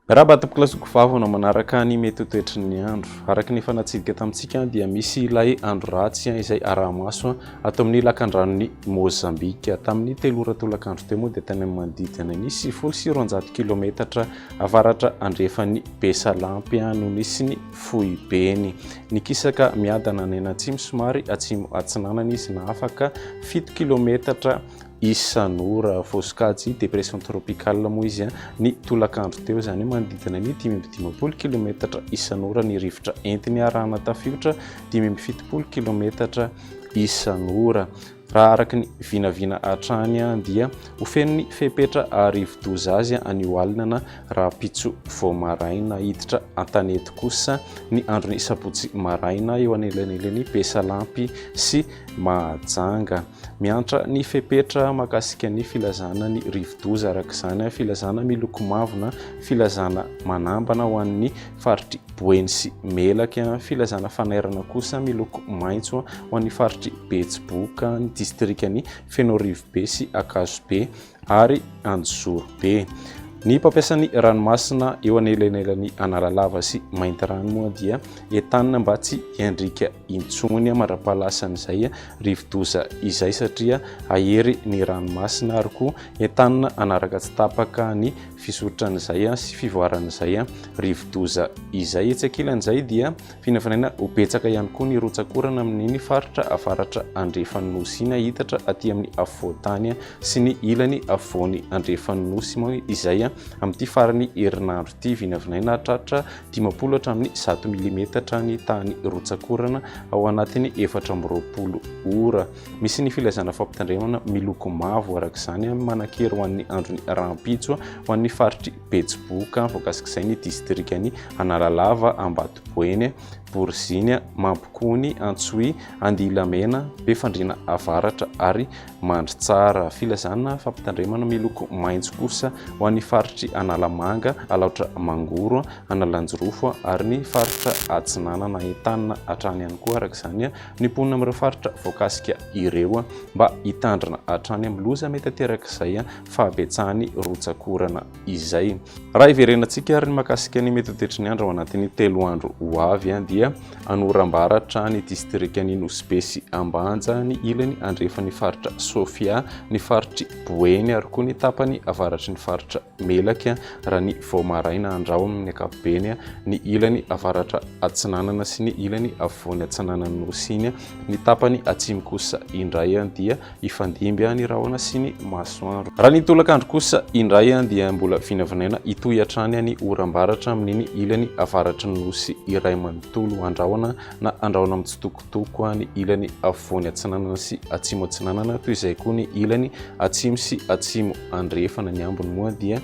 Miarahaba ato am-pilasiko vavy anao manaraka ny mety ho toetry ny andro. Araka ny efa natsidika tamintsika dia misy ilay andro ratsy izay araha-maso ato amin'ny lakandranon'i Mozambika. Tamin'ny telo ora tolakandro teo moa dia tany amin'ny manodidina ny sivifolo sy roanjato kilometatra avaratra andrefan'i Besalampy no nisy ny foibeny. Nikisaka miadana any an'atsimo somary atsimo atsinanana izy na afaka fito kilometatra isan'ora. Voasokajy dépression tropicale moa izy ny tolakandro teo, izany hoe manodidina ny dimy amby dimampolo kilometatra isan'ora ny rivotra entiny arahana tafiotra dimy amby fitopolo kilometatra isan'ora. Raha araka ny vinavina hatrany dia ho fenon'ny fepetra rivodoza azy anio alina na rahampitso vao maraina. Hiditra an-tanety kosa ny andron'ny sabotsy maraina eo anelanelan'i Besalampy sy Mahajanga. Miantra ny fepetra mahakasika ny filazana ny rivodoza araka izany filazana miloko mavo na filazana manambana ho an'ny faritry Boeny sy Melaky, filazana fanairana kosa miloko maitso ho an'ny faritry Betsiboka, ny distrikan'i Fenoarivobe sy Ankazobe ary Anjozorobe. Ny mpampiasan'ny ranomasina eo anelanelan'i Analalava sy Maintirano moa dia entanina mba tsy hiandriaka intsony mandra-pahalasan'izay rivodoza izay satria hahery ny ranomasina ary koa entanina hanaraka tsy tapaka ny fisoritran'izay sy fivoaran'izay rivodoza izay. Etsy ankilan'izay dia finavinana ho betsaka ihany koa ny rotsak'orana amin'iny faritra avaratra andrefan'ny nosy iny hahitatra aty amin'ny afovoan-tany sy ny ilany afovoany andrefan'ny nosy moa izay amin'ity farany herinandro ity. Vinavinaina hahatratra dimampolo hatramin'ny zato milimetatra ny tahan'ny rotsak'orana ao anatin'ny efatra amby roapolo ora. Misy ny filazana fampitandremana miloko mavo araka izany manan-kery ho an'ny andron'ny rahampitso ho an'ny faritr'i Betsiboka voakasik'izay ny distrikan'i Analalava, Ambatoboeny, Boriziny, Mampikony, Antsohihy, Andihilamena, Befandriana Avaratra ary Mandritsara. Filazana fampitandremana miloko maitso kosa ho an'ny faritr'i Analamanga, Alaotra Mangoro, Analanjirofo ary ny faritra Atsinanana entanina hatrany ihany koa araka izany ny mponina amin'ireo faritra voakasika ireo mba hitandrina hatrany amin'ny loza mety aterak'izay fahabetsahan'ny rotsak'orana izay. Raha hiverenantsika ary ny makasika ny mety ho toetry ny andro ao anatin'ny telo andro ho avy dia any Orambaratra, ny distrikan'i Nosy-Be sy Ambanja, ny ilany andrefan'ny faritra Sofia, ny faritry Boeny ary koa ny tapany avaratry ny faritra Melaky raha ny vao maraina andrao amin' ny ankapobeny ny ilany avaratra atsinanana sy ny ilany afovoany atsinanan' ny Nosy iny, ny tapany atsimo kosa indray dia hifandimby ny rahona sy ny masoandro. Raha ny tolakandro kosa indray dia mbola vinavinaina hitohy hatrany ny oram-baratra amin' iny ilany avaratry ny Nosy iray manontolo andrahona na andrahona mitsitoko. Toko A ny ilany afovoany atsinanana sy atsimo atsinanana, toy izay koa ny ilany atsimo sy atsimo andrefana. Ny ambiny moa dia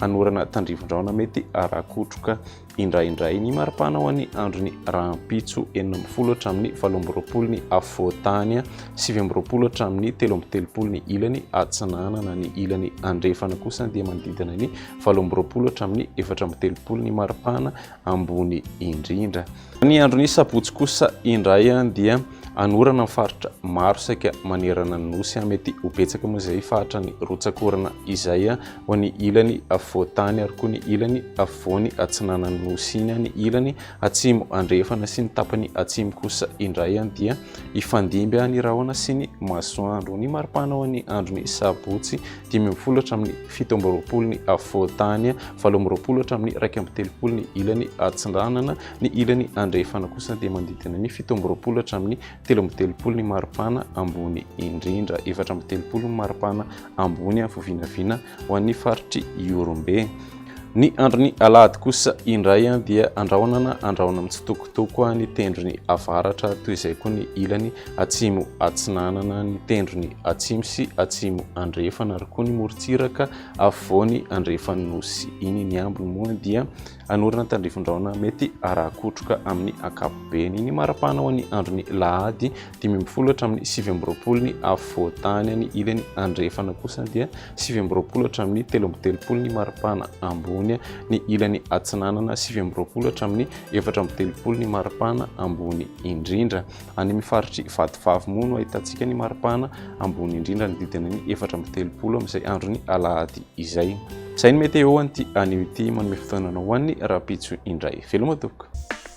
anorana tandrifin-drahona mety arakotroka indraindray. Ny maripana ho an'ny andron'ny rahampitso, enina ambin'ny folo hatramin'ny valo amby roapolo ny afovoan-tany, sivy amby roapolo hatramin'ny telo amby telopolo ny ilany atsinanana. Ny ilany andrefana kosa dia manodidina ny valo amby roapolo hatramin'ny efatra amby telopolo ny maripana ambony indrindra. Ny andron'ny sabotsy kosa indray dia hanorana ny faritra maro saika manerana ny nosy. Mety ho betsaka moa izay faritra ny rotsak'orana izay ho any ilany afovoan-tany ary koa ny ilany afovoany atsinanan'ny nosy iny. Ny ilany atsimo andrefana sy ny tapany atsimo kosa indray dia hifandimby ny rahona sy ny masoandro. Ny maripana ho an'ny andron'ny sabotsy dimy amby folo hatramin'ny fito amby roapolo ny afovoan-tany, valo amby roapolo hatramin'ny iraika amby telopolo ny ilany atsindranana, ny ilany andrefana kosa dia manodidina ny fito amby roapolo hatramin'ny telo amby telopolo ny maripana ambony indrindra, efatra amby telopolo ny maripana ambony, vovinavina ho an'ny faritr'i Ihorombe. Ny andron'ny alahady kosa indray dia andrahona na andrahona mitsitokotoko ny tendrony avaratra toy izay koa ny ilany atsimo atsinanana ny tendrony atsimo sy atsimo andrefana ary koa ny morontsiraka afovoany andrefan'ny nosy iny ny ambiny moa dia anorana tandrifondraona mety arakotroka amin'ny ankapobeny ny marapanao ny andron'ny lahady dimy ambin'ny folo hatramin'ny sivy amby roapolo ny afovoan-tany any ilany andrefana kosa dia sivy amby roapolo hatramin'ny telo amby telopolo ny maripana ambony ny ilany atsinanana sivy amby roapolo hatramin'ny efatra amby telopolo ny maripana ambony indrindra any amin'ny faritry vatovavy moa no ahitantsika ny maripana ambony indrindra ny didina ny efatra amby telopolo amin'izay androny alahady izay izay ny mety eo an'ity anio ity manome fotoanana ho an'ny rapitso indray veloma tokoa